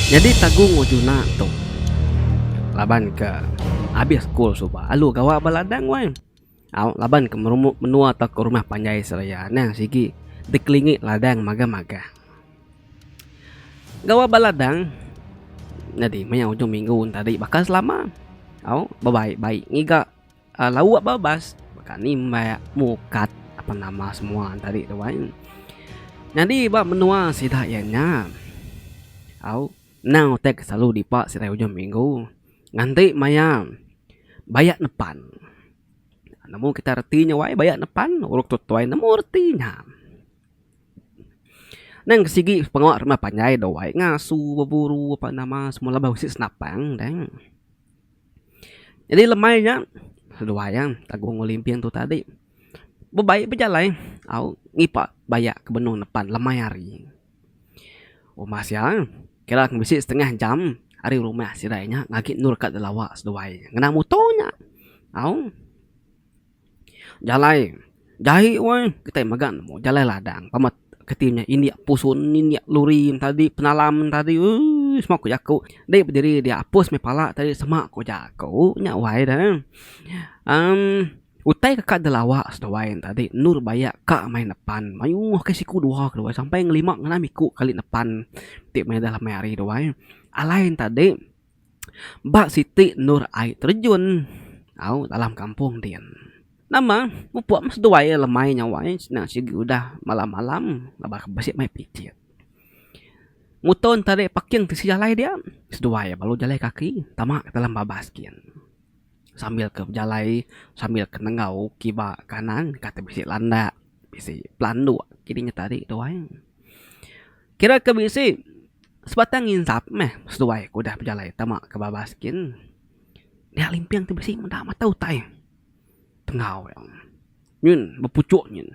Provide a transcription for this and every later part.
Nyadi tagung Arjuna tu laban ke abih sekul suba alu gawa ba ladang wai. Au laban ke merumu menua tauka rumah panjai seraya ne sigi dikelingi ladang magah-magah. Gawa ba ladang nyadi maya ujung minggu ne tadi bakal selama au bebai-bai ngiga. lauk ba bas baka ni meh mukat apa nama semua tadi tu ai. Nyadi ba menua sida iya nya au endang utek silalu dipa sitai ujung minggu nganti maya baya nepan. Nemu kita reti nya wai baya nepan urip tuai nemu reti nya. Nang ke sigi pengawa rumah panjai dau ai ngasu beburu apa nama semua laban bisi senapang dang. Jadi lemai nya seduai iya Agung Olimping tu tadi bebai bejalai au ngipak baya ke benung nepan lemai hari. Rumah sia kira ku bisi setengah jam ari rumah sidai nya agi endur ka Delawa seduai ngena muto nya au. Jalai. Jai weh kitai mega nemu jalai ladang pemit keti nya indik pusun indik luri tadi penalam tadi uii semua ku jaku dei bediri dia apus meh pala tadi sema ku jaku nya wai de emm utai deka dilawa seduai tadi endur bayak ka meh nepan mayuh ke siku dua ke duai sampai ngelima ngenam iku kali nepan ti meda meh hari duai alai tadi. Ba siti endur ai terejun au dalam kampung din. Nama pupok meh seduai ai lemai nyawa ai senang sigi udah malam malam ngaba ke bisi mai picit. Muto enta dei parking tisi jalai dia seduai ai balu jalai kaki tama ke dalam babas gin. Sambil ke bejalai sambil ke nengau kiba kanan kati bisi landak bisi pelandok kidi nyet ari duai. Kira ke bisi sebatang nginsap meh seduai ke udah bejalai tama ke babas kin. Dia limping ti bisi meda mata utai penggau iya. Nyin bepuchok nyin.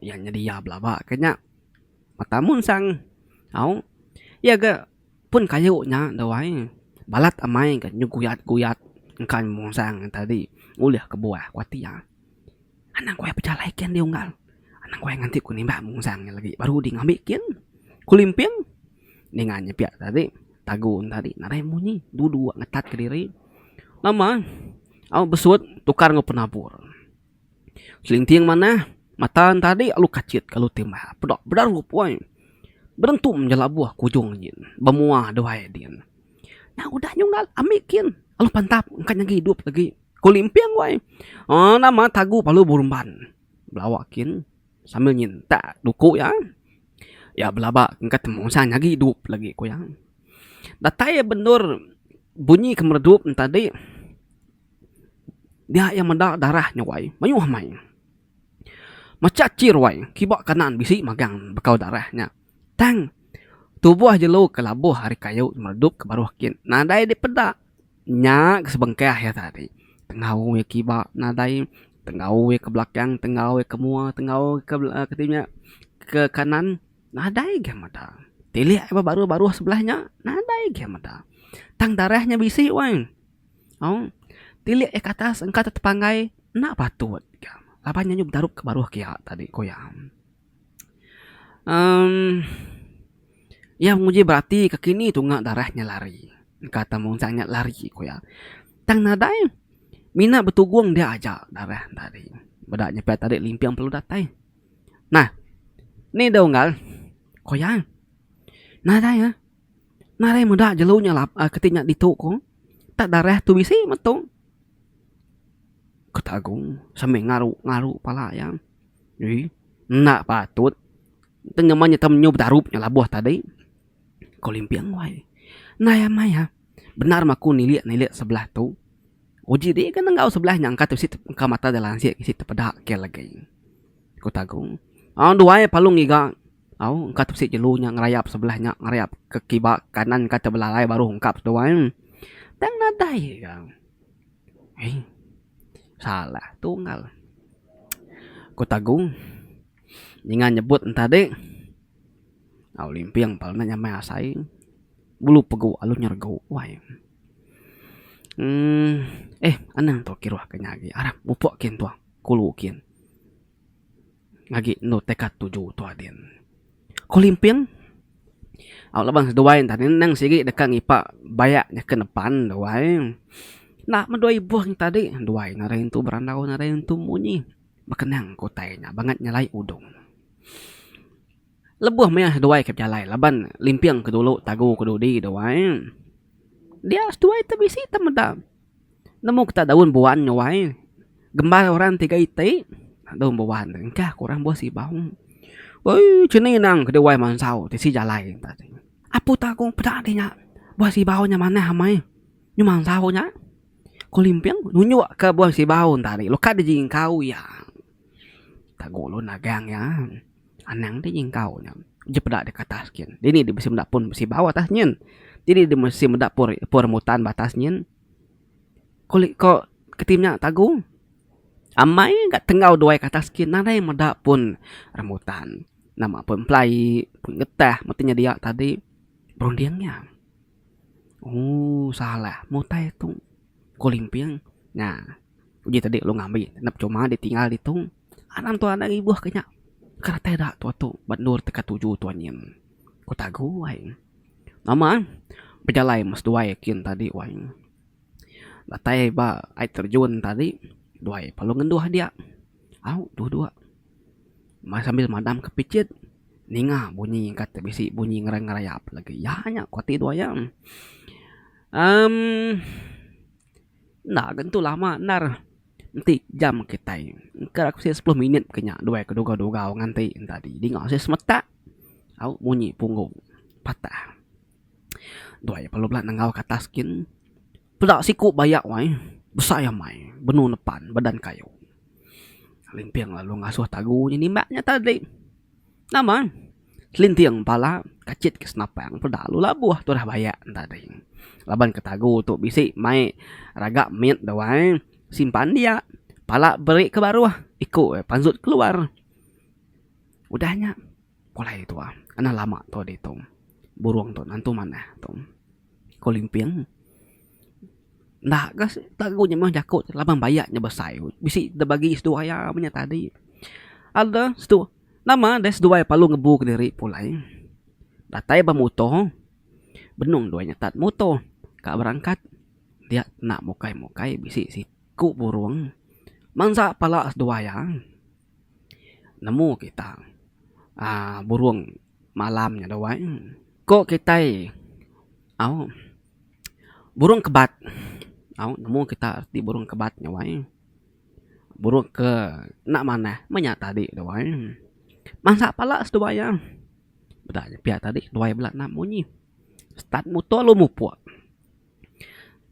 Iya nyadi iya belaba ke nya. Mata amu ensang au iya ga pun kayu nya duai balat amai ga nyeguyat guyat engka mungsang tadi ulih kebuah ku ati iya. Anang ku ai pejalai kin andi unggal. Anang ku ai nganti ku nimbak mungsang nya lagi baru ding ambi kin. Ku limping ninga nya pia tadi tagu ne tadi nadai munyi dulu dua ngetat kediri nama au besut tukar enggau penabur. Selinting manah mata ne tadi alu kachit alu timba peda bedarup woi. Berentum ja labuh ku ujung nyin ba mua duai din. Nya udah nya unggal ami kin alu pantap engka nyagi idup lagi. Ku limping wai. Aaa nama tagu palu berumban. Belawa kin sambil nyentak duku iya. Iya belaba engka temu ensang agi idup lagi ku iya. Datai iya ba endur bunyi ke meredup ne tadi dia iya meda darah nya wai mayuh amai. Macha chir wai kiba kanan bisi magang ne bekau darah nya. Tang tubuh jelu ke labuh ari kayu meredup ke baruh kin nadai dipeda. Nya ke sebengkah iya tadi. Tenggau iya kiba nadai, tenggau iya ke belakang, tenggau iya ke mua, tenggau iya ke dinya ke kanan nadai agei meda. Tilik iya ba baruh-baruh sebelah nya nadai agei meda. Tang darah nya bisi wei. Au tilik iya ke atas engka tepanggai enda patut ka laban iya nyudah bedarup ka baruh kiya tadi ku iya. uhh Iya nguji berati ke kini tunga darah nya lari. Engka te mung sak nya lari ku iya. Tang nadai mina betugung dia aja darah ne tadi. Beda inya pia tadi limping perlu datai. Nah nih dau unggal ku iya nadai eh nadai meda jelu nya lap uhh keti nya ditu ku tak darah tu bisi metu. Ku Tagung sambil ngaru ngaru pala iya. Ui, enda patut. Enti ngeman nyetau menyu bedarup nya labuh tadi, ko Limping wai. Nai amai ha, bendar meh aku nilik nilik sebelah tu. Uji dih ke nenggau sebelah nya engka bisi engka mata deh lansik bisi tepeda ke legi, ku Tagung. Duai palu ngiga au engka bisi jelu nya ngerayap sebelah nya ngerayap ke kiba kanan kah ke belalai baru ungkap seduai. Tang nadai ga. Hei. Salah tunggal. Ku Tagung ninga nyebut entadi. Au limping pala nya nyamai asai. Bulu pegu alu nyergu wai. Emm. Eh, anang tu kiruh ke nya agi. Arap mupuk kin tu. Kulu kin. Agi endur teka tuju tua din. Ko limping, au laban seduai ntah din endang sigi deka ngipa bayak nyaken nepan duai. Enda meh duai ibuh ngi tadi, duai ne ari intu berandau ari intu munyi. Bekenang ke utai nya bangat nyelai udung. Lebuh maya seduai ke bejalai laban limping ke dulu tagu ke dudi duai. Dia seduai tu bisi tau meda. Nemu kita daun buan nya wai. Gembar orang tiga iti daun buan tu engkah ku orang buah sibau. Uii chini nang ke duai mansau tisi jalai enta ti. Apu tagu peda agi nya buah sibau nya manah amai nyu mansau nya. Ku limping nunjuk ke buan sibau enta ri lu ka dijingkau iya. Tagu ulun nagang iya. Anang ti nyingkau nya. Uji peda dek atas gin. Dini dek bisi meda pun besi bau atas nyin. Dini dek bisi meda pun pun rambutan ba atas nyin. Ko le ko kitai nya tagu. Amai ga tenggau duai ke atas gin. Nadai meda pun rambutan. Nama pun pelaie, pun getah mesti nya dia tadi. Berunding nya. Ooh salah. Mutai tu ko limping. Nah. Uji tadi lu ngambi ngenap cuma ditinggal ditu. Anang tu anak ngibuh ke nya. Keratai da tua tu ba endur teka tuju tua nyin. Ku Tagu wai. Nama bejalai mas duai kin tadi wai. Datai ba ai terjun tadi duai pa lu ngenduh dia. Au dua dua mas sambil madam ke pichit ninga bunyi kata bisi bunyi ngerayap lagi iya nya kuati duai iya. Amm. Enda ke ntu lama endar enti jam kitai engka ku sik sepuluh minit ke nya duai ke dugau dugau ngan ti enta di dinga sik semetak au munyi punggung patah duai aja perlu bela nengau ke atas gin peda siku bayak wai besai amai benung nepan badan kayo limping lalu ngasuh tagu nya nimbak nya tadi. Nama? Kelinting pala kachit ke senapang peda lalu labuh turah bayak enda tadi. Laban ke tagu tu bisi mai raga mit da wai simpan dia pala beri ke baruh iku e panjut keluar. Udah nya pulai tuah ana lama tuah ditu burung tu nentu manah tu ko limping enda ka tagu nya meh jaku laban bayak nya besai bisi da bagi situ aya menya tadi ada situ. Nama deh seduai palu ngebu kediri pulai. Datai ba muto. Benung duai nyetat muto ka berangkat. Dia kena mukai-mukai bisi siku burung mansa pala seduai iya. Nemu kita aaa burung malam nya duai. Ko kitai au burung kebat. Au nemu kita reti burung kebat nya wai. Buruk ke enda manah menya tadi tuai. Mansa pala seduai iya. Peda nya pia tadi tuai bela nap munyi. Start muto lu mupuk.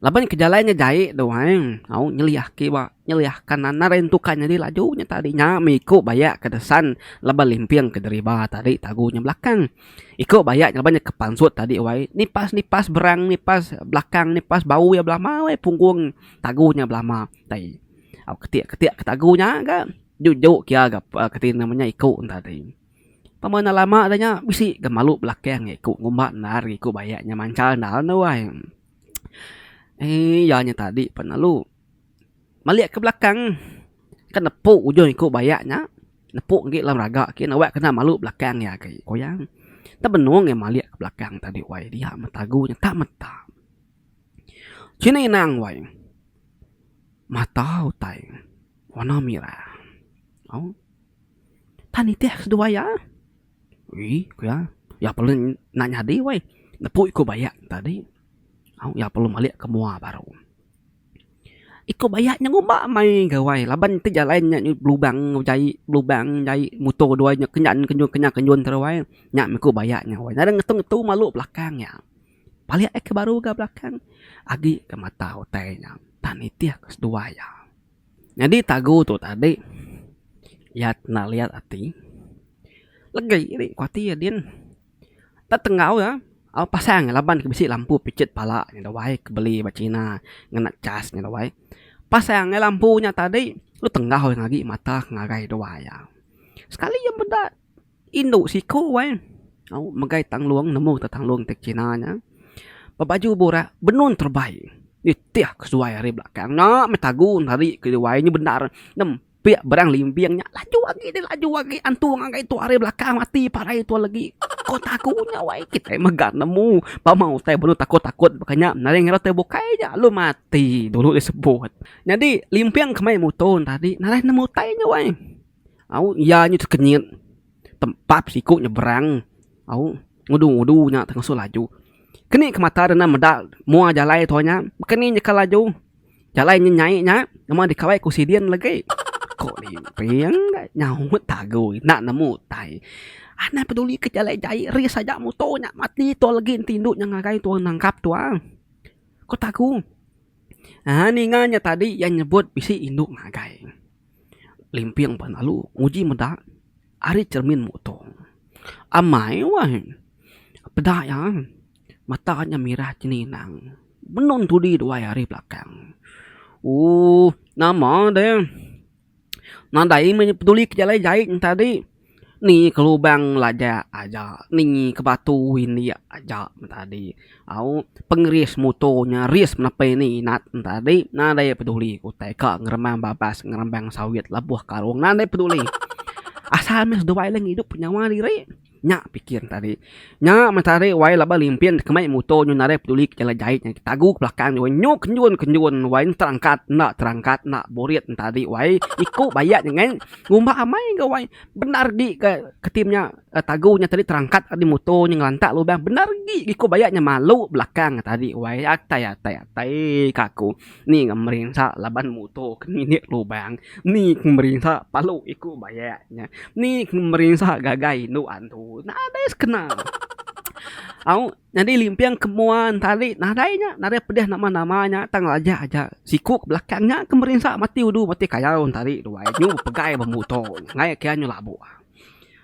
Laban ke jalai ngejai tuai au nyeliah ke iba nyeliah ka nanar lain tukar nyadi laju nya tadi nya meh iko bayak ke desan laban limping ke deriba tadi tagu nya belakang. Iko bayak laban nya ke pansut tadi wai nipas nipas berang nipas belakang nipas bau iya belama wai punggung tagu nya belama. Tadi. Au ketik ketik ke tagu nya ga jujok kia ga kati nama nya iko enta tadi. Tama enda lama da nya bisi ga malu belakang ga iko ngumba endar ga iko baya nya mancha endar enda wai. Eii iya nya tadi pan lalu malik ke belakang ke nepu ujung iko baya nya nepu enggi dalam raga kiye nawa kena malu belakang iya agi. Ku iya, tebenung iya malik ke belakang tadi wai dia meh tagu nya tak meta. Chin inang wai mata utai warna mirah au tan nitih aku seduai iya. Uii ku iya iya perlu nya nyadi weh nepu iku baya tadi au iya perlu malik ke mua baru. Iku baya nya ngumba meh gawai laban ti jalai nya belubang jai belubang jai muto duai nya kenyan kenyun kenyan kenyun terus ai nya meh ku baya nya weh nyadi ngetu ngetu malu belakang iya. Palik ai ke baru ga belakang agi ke mata utai nya entah nitih ke seduwa iya. Nyadi tagu tu tadi iya enda liyat ati legi ri ku ati iya din nda tenggau iya au pasang iya laban ke bisi lampu picit pala nya dawai ke beli ba china ngena chas nya dawai pasang ai lampu nya tadi lu tenggau iya ngagai mata ke ngagai duwa iya sekali iya meda. Indu siku wai au megai tanglung nemu te tanglung ti kina nya bebaju burak benun terebai nitih kesuai ari belakang nya meh tagu nari keli wai nya bendar nempiak barang limbing nya laju agi deh laju agi antung agai tu ari belakang mati parai tu legi ko taku nya wai kitai mega nemu pama utai baru takut takut baka nya nadai ngira utai bukai nya lalu mati dulu disebut nyadi limbing kemai muto tadi nadai nemu utai nya wai. au iya nyu tekenyit tempap siku nyebrang au ngudu ngudu nya tengah ngesu laju keni ke mata deh enda meda mua jalai tua nya baka ni nyeka laju jalai nyi nyai nya memang dikawai ku sidin legi ko ni ping deh nyaut tagu enda nemu utai anda peduli ke jalai jai ris aja muto nya mati tua legi enti indu nya ngagai tua nangkap tua ko tagu aaa ninga nya tadi iya nyebut bisi indu ngagai. Limping penalu nguji meda ari cermin muto. Amai wai peda iya mata nya mirah ceninang benung tudi duai ari belakang. Ooh nama deh nadai meh peduli ke jalai jai nya tadi. Ni ke lubang lajak aja ni ke batu indik aja men tadi au pengeris muto nya ris nepi ni inat men tadi nadai peduli ku utai ka ngerembang babas ngerembang sawit lebuh karung nadai peduli asal meh seduai idup nyawa diri nya pikir tadi. Nya metarik wai laban limpin kemai muto nyu narai peduli ke jalai jai ke tagu ke belakang dua nyu kenjun kenjun wai enda terangkat enda terangkat enda burit enta agi wai iku bayak nya ngai ngumba amai ga wai bendar agi ga ketim nya tagu nya tadi terangkat agi muto nya ngelantak lubang bendar agi iku bayak nya malu belakang tadi wai atai atai atai ka aku. Ni ga merinsa laban muto ke nginik lubang, ni ke merinsa palu iku bayak nya, ni ke merinsa gagai indu antu. Nadai sekena. Au nyadi limping ke mua entari nadai nya, nadai pedeh nama-nama nya tang lajah aja siku ke belakang nya ke merinsa mati udu mati kayau entari duai nyu bepegai ba muto nya ngai kia nyu labu.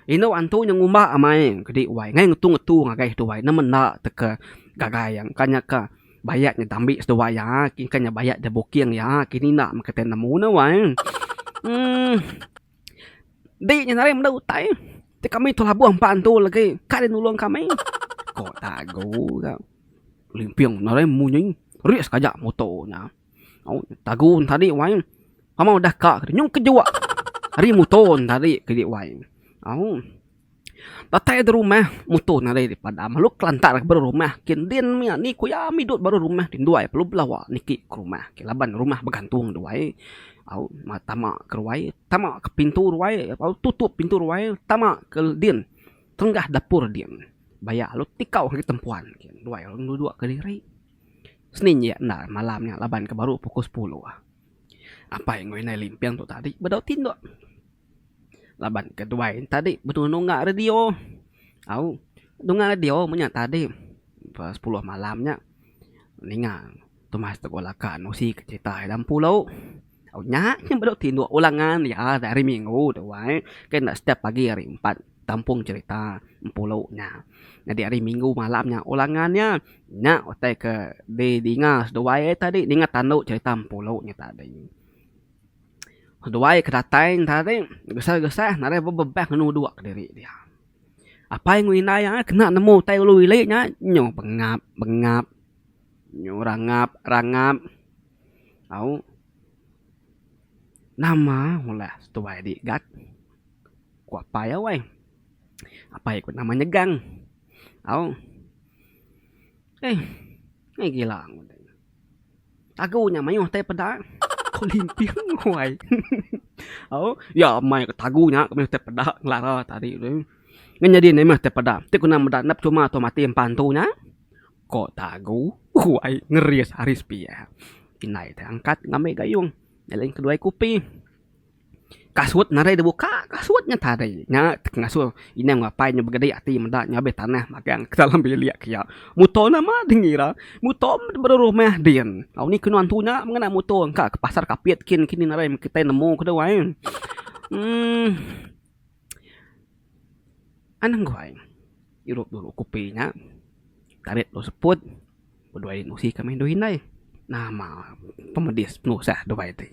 Indu antu nya ngumba amai kedi wai ngai ngetu-ngetu ngagai duai ne menda teka gagai iya, bukannya ka. Bayat nya dambi seduai iya. Kingka nya bayat da booking iya. Kini enda meh kitai nemu ne wai. Uhh. Dik nya nadai meda utai. Ti kami tu labuh empa antu legi. Ka deh nulung kami. Ko Tagu ga. Limping nadai munyi. Rik sekejap muto nya. Au Tagu ne tadi wai. Amang udah ka nyung kejua. Ari muto ne tadi kadi wai. Au. Datai derumah muto nadai di padam lalu kelantar ke baruh rumah kin din mia ni ku iya ami dut baruh rumah ti nduai perlu bela awak niki ke rumah ke laban rumah begantung nduai au ma tama ke ruai tama ke pintu ruai au tutup pintu ruai tama ke din tenggah dapur din baya lalu tikau agi tempuan kin nduai lalu ngerudu kediri seni nya enda malam nya laban ke baruh pukul sepuluh apai ngoi nai limping tu tadi bedau tindok. Laban ke tuai tadi betunu ga radio au dengar radio menya tadi pa sepuluh malam nya ninga tumas tegula laka nusi ke cerita iya dalam pulo au nya nya baru tinduk pulang ngan iya hari minggu tuai ke enda setiap pagi hari empat tampung cerita empulo nya. Nyadi hari minggu malam nya ulangan nya nya utai ke di dinga seduai tadi ninga tandu cerita empulo nya tadi. Seduai ke datai entara ti gesah-gesah nadai bebebak ngenu dua kediri dia. Apai enggau indai iya kena nemu utai ulu ili nya nyu pengap pengap nyu rangap rangap au nama mula seduai di gat ku apai iya weh. Apai iya ku nama nyegang au eih gila. Tagu nya mayuh tai peda. Ko limping wai. Au, ya meh ko tagu nya ko mayuh tai peda ngelara ti ari tu. Ngan nyadi ne meh tai peda. Ti kena meda ne percuma tau mati empa antu nya. Ko tagu wai ngeris ari sepiak. Indai tai angkat ngambi gayung. Nya lain keduai kupi. Kasut narai da buka, kasut nya tari. Nya ti ngasuh indai enggau apai nya begedai ati meda nya abih tanah magang ke dalam bilik ke iya. Muto ne ama deh ngira. Muto meh diberi rumah din. Au ni kenu antu nya mengena muto engka ke pasar kapit kin kini ngarai kitai nemu ke dau ai. uhh Anang guai irup dulu kopi nya tarit dulu seput bedue nusi ka meh indu indai. Nama pemedis penusah duai ti.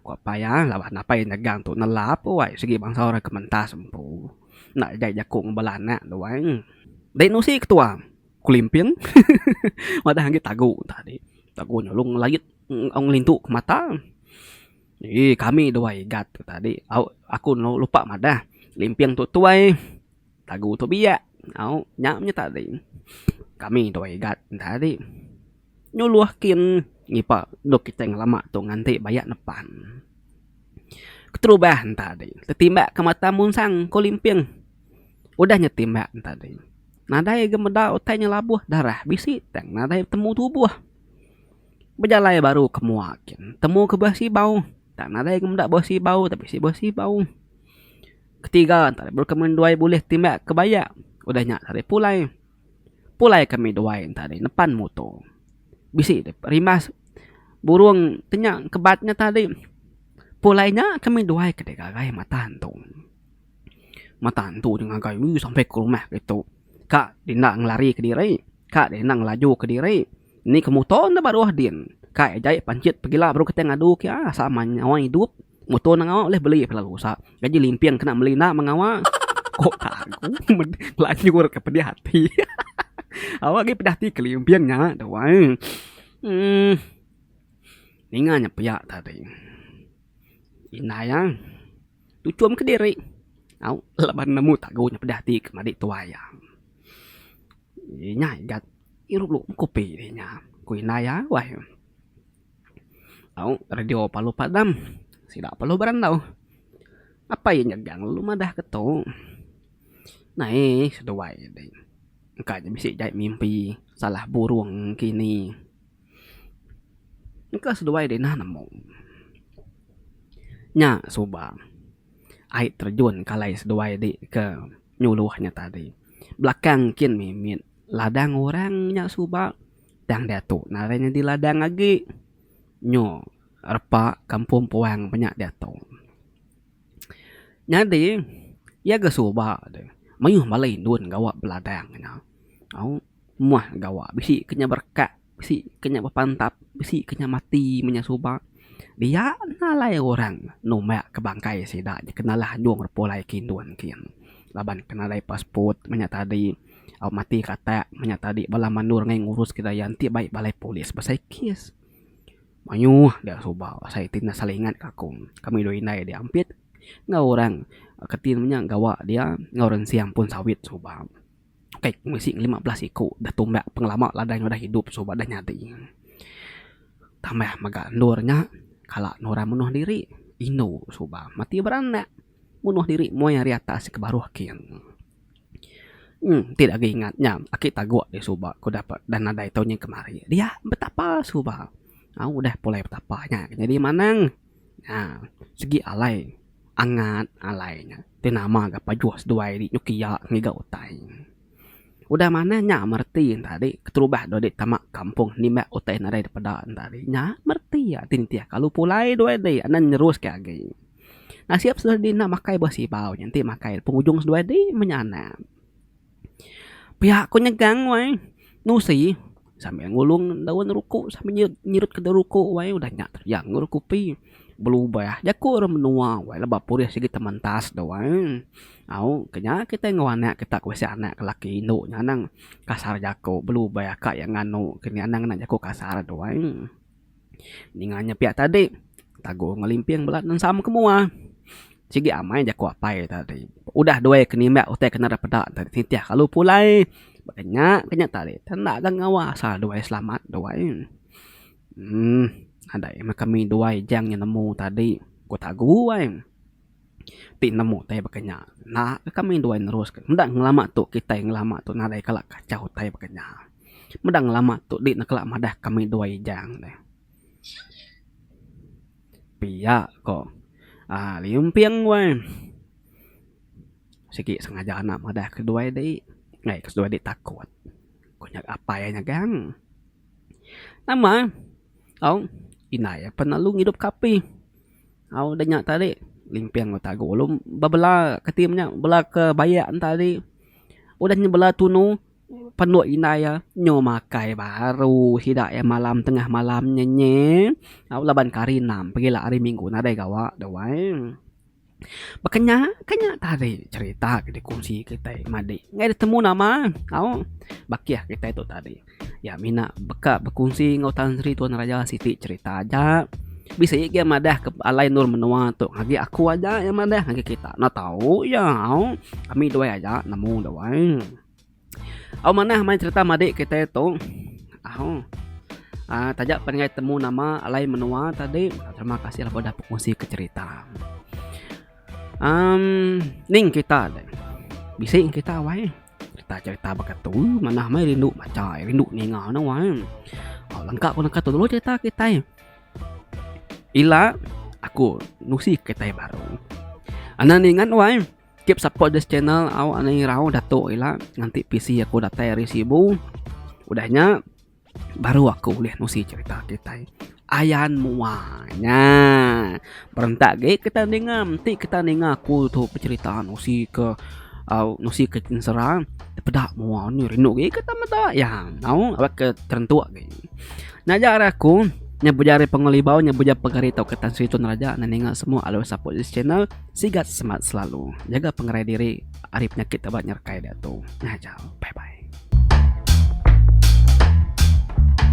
Ku apai iya, laban apai nyegang tu nelap wai sigi bansa orang ke mentas empu enda jai jaku ngan bala anak tu wai. Dei nusi ketua kelimpin madah agi tagu tadi. Tagu nyelung langit au ngelintu ke mata. Ii kami dua igat tu tadi au aku lupa madah limping tu tuai. Lagu tu biak au nya meh tadi kami dua igat tadi nyuluh kin ngipa endok kitai ngelama tu nganti baya nepan keterubah tadi tetimbak ke mata munsang ko limping udah nya timbak tadi nadai ga meda utai nya labuh darah bisi tang nadai temu tubuh bejalai baru ke mua kin temu ke ba sibau tang nadai ga meda ba sibau tapi bisi ba sibau. Ketiga, ntah bulu kemin duai bulih timbak ke bayak. Udah nya tadi pulai. Pulai kami duai ntah di nepan muto. Bisi dep rimas burong ti nya kebat nya tadi. Pulai nya kami duai ke dek gagai mata antu. Mata antu ti ngagai ui sampai ke rumah ke tu. Ka di enda ngelari ke diri. Ka di enda ngelaju ke diri. Ni ke muto enda baruh din. Ka ejai panchit pegila baru kitai ngadu ke iya sama nyawa idup. Muto enda ngawa ulih beli kelalu usa. Jaji limping kena meli enda mengawa. Ko paguh meda lanjur ke pedih ati. Awak agi pedih ati ke limping nya tu ai. Emm ninga nya pia tadi. Indai iya tuchum ke diri au laban nemu tagu nya pedih ati ke madi tuai iya. Inya igat irup kopi inya ku indai iya wai. Au, radio parlu padam. Sida parlu berandau. Apai iya nyegang lalu madah ke tu. Naih seduai deh. Engka nya bisi jai mimpi salah burung kini. Engka seduai deh nah nemu. Nya suba ai terjun kalai seduai di ke nyuluh nya tadi. Belakang kin mimit ladang orang nya suba. Tang diatu narai nyadi ladang agi. Nyu repa kampung puang ba nya diatu. Nyadi iya ga suba deh mayuh bala indun gawa beladang nya. Au meh gawa bisi ke nya berekat bisi ke nya bepantap bisi ke nya mati menya suba dia enda alai orang numba ke bangkai sida nya ke nalah anjung repulai ke indun ke iya. Laban ke nadai passport menya tadi. Au mati ka atak manya tadi bala mandor ngai ngurus ke daya enti bai balai polis besai kes. Mayuh dia suba asai ti enda saling ingat ka aku. Kami dua indai agi ampit enggau orang ke ti manya gawa dia enggau orang ensing ampun sawit suba. Ukai ku bisi lima belas iku dah tumbak pengelama ladai udah idup suba dah nyadi. Tambah mega endur nya kala nurang menoh diri indu suba mati beranak. Munuh diri moi ari atas ke baruh king. Emm ti agi ingat nya aki taguk deh suba ku dah dak nadai tau nyin kemari. Dia betapa suba au udah pulai betapa nya nyadi manang nya segi alai angat alai nya ti nama ga pajuh seduai ri nyuki iya ngiga utai. Udah manah nya mereti enta ri keterubah dau diri tama kampung nimbak utai nadai dipeda enta ri nya mereti ati nitih kalu pulai duai dei anan neruske agi. Nasib seduai adi enda makai buah sibau nya enti makai pengujung seduai adi menya anak. Pia ku nyegang wai nusi sambil ngulung daun ruku sambil nyerut nyerut ke daun ruku wai udah nya teyang ngeru kopi belubah jaku orang menua wai leba purih sigi te mentas tu wai au ke nya kitai enggau anak kita ku bisi anak lelaki indu nya anang kasar jaku belubah ka iya nganu ke nya anang jaku kasar tu ai. Ninga nya pia tadi tagu ngelimping bala nensam ke mua. Sigi amai jaku apai tadi. Udah duai ke nimbak utai ke nera peda te titih kalu pulai. Ba ke nya ke nya tadi te enda ga ngawa asal duai selamat duai. Uhh nadai meh kami duai jang nemu tadi ku tagu ai. ti nemu utai baka nya enda ka kami nduai neruska enda ngelama tu kitai ngelama tu nadai kala kachau utai baka nya meda ngelama tu di ne kala madah kami duai ijang deh pia ko um limping weh sigi sengaja anak madah ke duai di ngai ke seduai di takut ku nya apai iya nyegang nama au indai iya pelalu ngidup ka api Au da nya tadi limping ba tagu lu bebela kati inya bela ke bayak enta agi udah nya bela tunu penu indai iya nyu makai baru sida iya malam tengah malam nya nyi au laban ke hari enam pagila hari minggu nadai gawa da wai baka nya ka nya tadi cherita ke dikongsi kitai madi ngai betemu nama au bakih kitai tu tadi. Iya mina beka bekunsi enggau Tan Sri Tuan Raja siti cherita aja. Bisi agi iya madah ke alai endur menua tu ngagai aku aja iya madah ngagai kita enda tau iya au. Ami duai aja nemu duai. Au manah main cherita madik kitai tu au aaa taja panai temu nama alai menua tadi. Terima kasih laban udah bekunsi ka cherita. Amm ning kita deh bisi kita wai. Cerita-cerita baka tu manah meh rindu macha ai, rindu ninga ne wang ai. Oh, lengka ku neka tu dulu cerita kitai. Ila aku nusi kitai baru. Anak nih ingat wang ai. Keep support this channel au ani irau datuk ila nganti PC aku datai ari Sibu. Udah nya Baru aku ulih nusi cerita kitai ayan mua nya. Berentak agi kitai ninga menti kitai ninga aku tu becerita nusi ke aaa nusi ke ensera peda mua nya rindu agi kitai meda iya enggau aba ke terentuk agi. Naja ari aku nya pejari pengelibau nya pejari tau kitai Sri Tun Raja ne ninga semua alai whatsapp channel. Sigat semat selalu. Jaga pengerai diri ari penyakit ke ba nyerekai diatu. Ngajar. Bye bye.